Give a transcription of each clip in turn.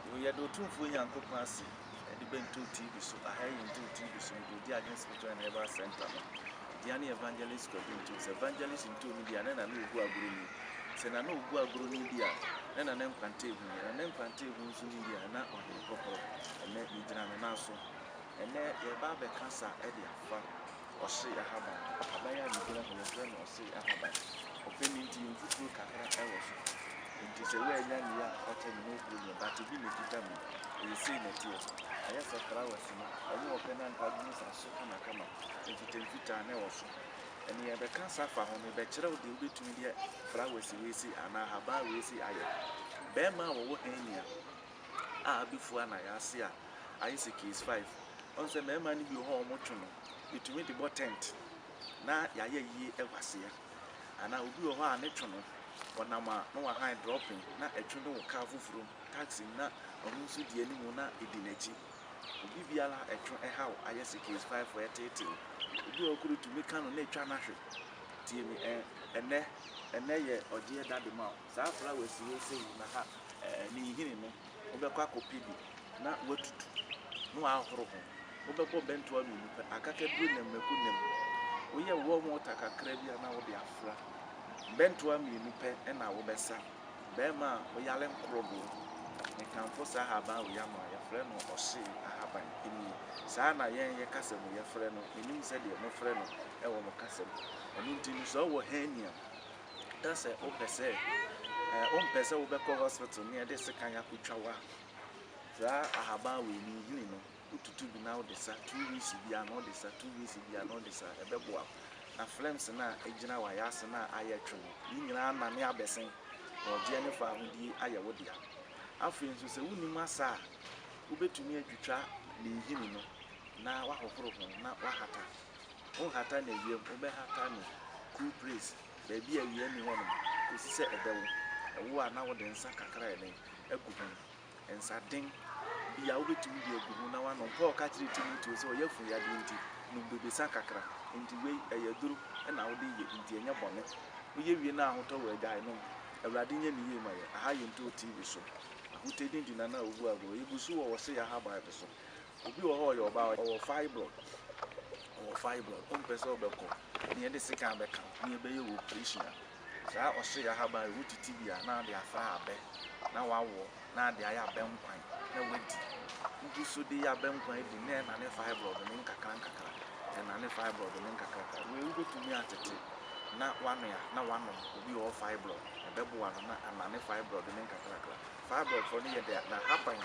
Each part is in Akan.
Yoo yɛda Otumfoɔ Nyankopɔn ase ɛde Bɛntoo TV so aha yɛ Ntoo TV so mede redi Adwene Spiritual and Herbal Centre no dea ne Evangelist Kwadu Ntoo sɛ Evangelist Ntoo no deɛ a na na na ɔgu agorɔ ni sɛ na na ɔgu agorɔ ni deɛ a na na ne nkwante ehu deɛ na ne nkwante ehu nso ni deɛ a na ɔhene kɔkorɔ ɛnnɛ megyina me nan so ɛnnɛ yɛreba abɛka sa ɛde afa Ɔhye ahaban. Ahaban yi a migyina ho yi wɔfrɛ no ɔhye ahaban. Ɔpɛ no nti mfuturo kakra wɔ so. Nti sɛ woannya nea a ɔkyɛ no na ɔpue no ɛ, but ebi na ɛkita mu. Ɛyɛ sei na ɛteɛ. Ayɛ sɛ flowers no. Wɔn a wɔpɛ no anka wɔn nsa so kamakama. Mfitamfitaa na ɛwɔ so. Nea ɛbɛka saa fa ho, mebɛkyerɛ wo deɛ wobɛtumi de flowers wei sei anaa ahaban wei sei ayɛ. Bɛɛma a wɔwɔ hɛnia a abɛfua na ayɛ ase a, ayɛ sɛ case five. Ɔhu sɛ mmarima no bi wɔ hɔ a wɔtwe no, yɛtumi de bɔ tent na yɛayɛ yie wɔ aseɛ. Anaa obi wɔ hɔ a ne two no, ɔnam a na wahan dropping na ɛtwe no wɔ kaa foforɔ mu, taxi mu na ɔno nso di anim na ɛdi n'akyi. Obi biara a ɛtwe ɛhaw ayɛ sɛ case five a ɛteetee no. Obi wɔ hɔ koraa ɛtumi ka no na ɛtwa no ahwe. Tie me ɛn, ɛnnɛ, ɛnnɛ yɛ ɔgyeɛ da dema wo. saa flowers wei sei na ha ɛɛ ne nhini no wobɛkɔ akɔpɛ bi na watutu na wahoro ho wobɛbɔ bɛntoa mmienu pɛ akakaduro nam mako nam woyɛ warm water kakra bi a na wode afra bɛntoa mmienu pɛ ɛna wobɛsa bɛrima a woyale nkorodoɔ mekamfo saa ahaban wei ama yɛfrɛ no ɔhyee ahaban ɛni saa na yɛn yɛ kasa mu yɛfrɛ no menim sɛdeɛ mofrɛ no ɛwɔ mo kasa mu ɛno nti no sɛ ɔwɔ hernia na sɛ wopɛ sɛ ɛɛ wompɛ sɛ wobɛkɔ hospital ne ɛde sekan akɔtwa wo a, saa ahaban wei no nhini no wotutu bi na wode sa two weeks biara na wode sa two weeks biara na wode sa ɛbɛboa wo na flames no a ɛgyina w'ayaase no a ayɛ atwe no ne nyinaa anane abɛsen na ɔgyeɛ ne fahodie ayɛ wo dea. Afei nso sɛ wonim asa a, wobɛtumi atwitwa ne nhini no na wahohoro ho na wahata. Wonhata no awiam, wobɛhata no cool place, baabi a awia nni hɔnom kosi sɛ ɛbɛ wo. Ɛwo a na wode nsa kakra a ɛden agu ho, nsa den bi a wobɛtumi de agu ho na woanom. Paul ka kyerɛɛ Timoteo sɛ ɔyafunu yadeɛ nti, nom bobesa kakra. Enti wei, ɛyɛ aduro na wode reyɛ, enti ɛnyɛ bɔne. Woyɛ wie na ahotɔ wɔ a, gyae nom. Awurade nyɛ ne yie ma yɛn. Aha yɛntoo TV so. Ahotadi nti na na wobu agoru. Yɛgu so wɔ Wɔse Yɛaha Bible so. Obi wɔ hɔ a ɔyɛ ɔbaa, ɔwɔ fibroid, ɔwɔ fibroid, ɔmpɛ sɛ ɔbɛkɔ, ne yɛde sekan abɛka wo, ne yɛbɛyɛ wo operation a, saa ɔhye ahaban yi, wotete bi a, na ade afra abɛ, na wawɔ, na ade ayɛ abɛ nkwan, na wadi. Wogu so de abɛ nkwan adi, na ɛrenane fibroid no nkakrankakra, ɛrenane fibroid no nkakrankakra. Wei wobɛtumi atete, na woanoa, na woanom. Obi a ɔwɔ fibroid, ɛbɛboa no, na anane fibroid no nkakrankakra. Fibroid hɔ no yɛ dɛ a, n'ahaban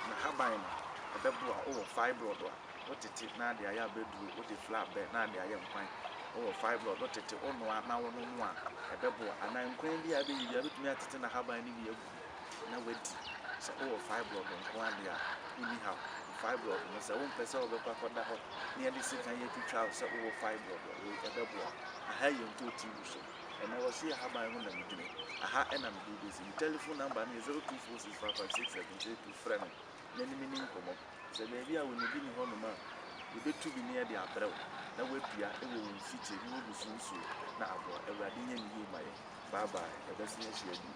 n'ahaban no, ɛbɛboa wo wɔ fibroid a wotete na ade ayɛ abɛduro, wode fla abɛ na ade ayɛ nkwan. Wowɔ fibroid, wotete, wonoa na wonom a, ɛbɛboa. Anaa nkwan bi a abɛyɛ bi a, wobɛtumi atete n'ahaban no bi agu mu na woadi. Sɛ wowɔ fibroid nko ara deɛ a, wonni haw. Fibroid no, sɛ wompɛ sɛ wobɛkɔ akɔda hɔ na wɔde sekan atwitwa wo sɛ wowɔ fibroid a, wei ɛbɛboa wo. Aha yɛ ntootii gu so. Ɛma wɔse yɛ ahaban ho na megyina yi, aha na mede wo bɛsi. Me tɛlefon namba no yɛ 0246556782, frɛ me na ne meni nkɔmmɔ. Sɛ baabi a wɔnni bi nni hɔnom a, yɛbɛtu bi ne de abrɛ wo na woadua wɔ wo mfikyire ne w'abusua nsuo na aboa. Awurade nyɛ ne yie ma yɛn. Bye bye, yɛbɛsan ahyia bio.